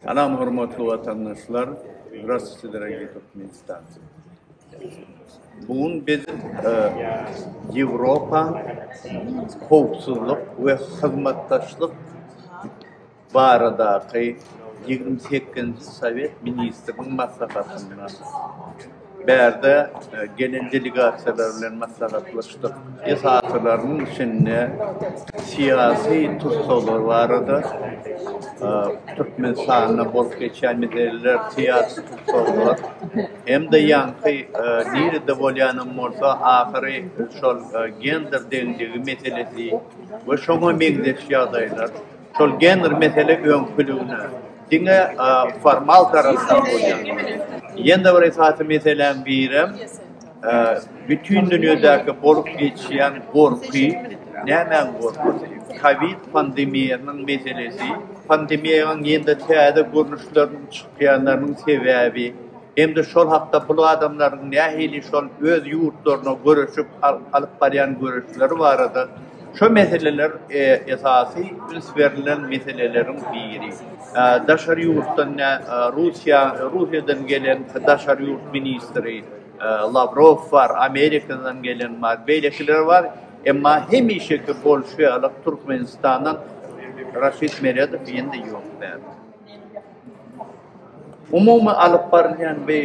Salam hormatly watandaşlar Zdrastwuyte daragiye Turkmenistancy Bu gün biz Ýewropa howpsuzlyk we hyzmatdaşlyk baradaky ýigrimi sekizinji Sowet ministriniň maslahatynda Bärde gelen delegasiýalar bilen maslahatlaşdyk. Esasylarynyň içinde syýasy tussaglar barada, Türkmenistanda bolup geçýän meseleler, syýasy tussaglar hem-de ýaňky nirede bolýanam bolsa, ahyry şol gender deňligi meselesi we şoňa meňzeş ýagdaýlar, şol gender mesele öňküligine, Diňe formal tarapdan bolýan ýene bir esasy meseläň birem bütin dünýädäki bolup geçýän gorky, nämäň gorkysy? Kowid pandemiýasynyň meselesi, pandemiýanyň ýene-de täze görnüşleriniň çykýanlarynyň sebäbi hem-de şol hakda bu adamlaryň nähili şol öz ýurtlaryna göreşip alyp barýan göreşleri barada Şu meseleler esasy üns berlen meseleleriň biri. Daşary ýurtdan nä Russiýa, Russiýadan gelen daşary ýurt ministri Lawrow bar, Amerikadan gelen bar, beýlekiler bar, emma hemişeki bolşy ýaly Türkmenistandan Raşid Meredow indi ýok däl. Umumy alyp barylýan we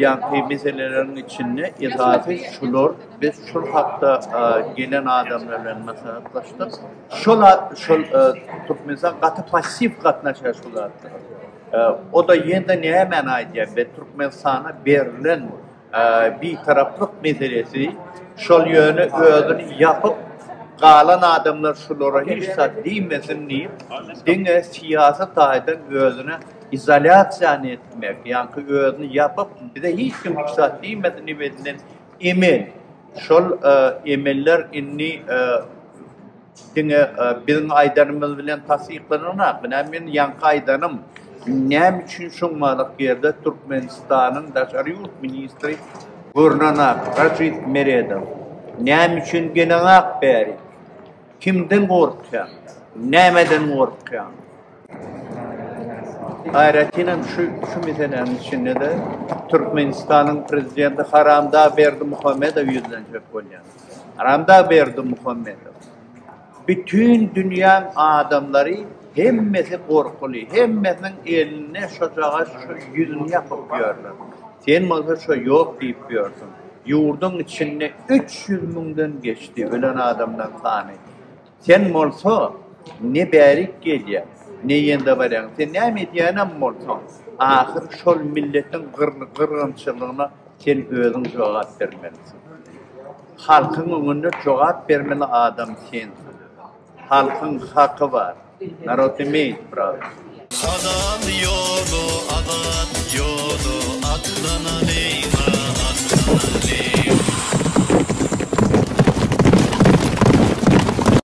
ýaňky meseleleriň içinde esasy şular, biz şol hakda gelen adamlar bilen maslahatlaşdyk, şol şol Türkmenistan gaty passiw gatnaşýar şu zatlara. O-da ýene-de nämäni aýdýar, biz Türkmenistana berlen Bitaraplyk meselesi şol ýöne özüni ýapyp galan adamlar şulara hiç zat diýmesin diýip diňe syýasy taýdan özüne izolýasiýany etmek ýaňky özüni ýapyp bize hiç kim hiç zat diýmesin diýip edilen emel şol emeller indi Diňe biziň aýdanymyz bilen tassyklananok. Menä men ýaňky aýdanym, näme üçin şoň maýlyk ýerde Türkmenistanyň daşary ýurt ministri görnenok, Rajit Meredow? Näme üçin geleňok bäri? Kimden gorkýaň? Nämeden gorkýaň? Aýratynam şu şu meseläniň içinde-de Türkmenistanyň prezidenti haramdag Berdimuhamedow ýüzlenjek bolýar. Aramdag Berdimuhamedow, Bütin dünýäň adamlary hemmesi gorkuly, hemmesiniň elinde şojagaz şu ýüzüni ýapyp ýörler. Sen bolsa şo ýok diýip ýörsüň. Ýurduň içinde üç ýüz müňden geçdi ölen adamlaryň sany. Sen bolsa ne bärik gelýäň, ne ýende barýaň. Sen näme edýänem bolsaň, ahyr şol milletiň gyrgynçylygyna sen özüň jogap bermelisiň. Halkyň öňünde jogap bermeli adam sensiň. Halkyň haky bar. Narod imeýt pravo. Halal ýoly azat ýoly atlanalyň a atlanalyň.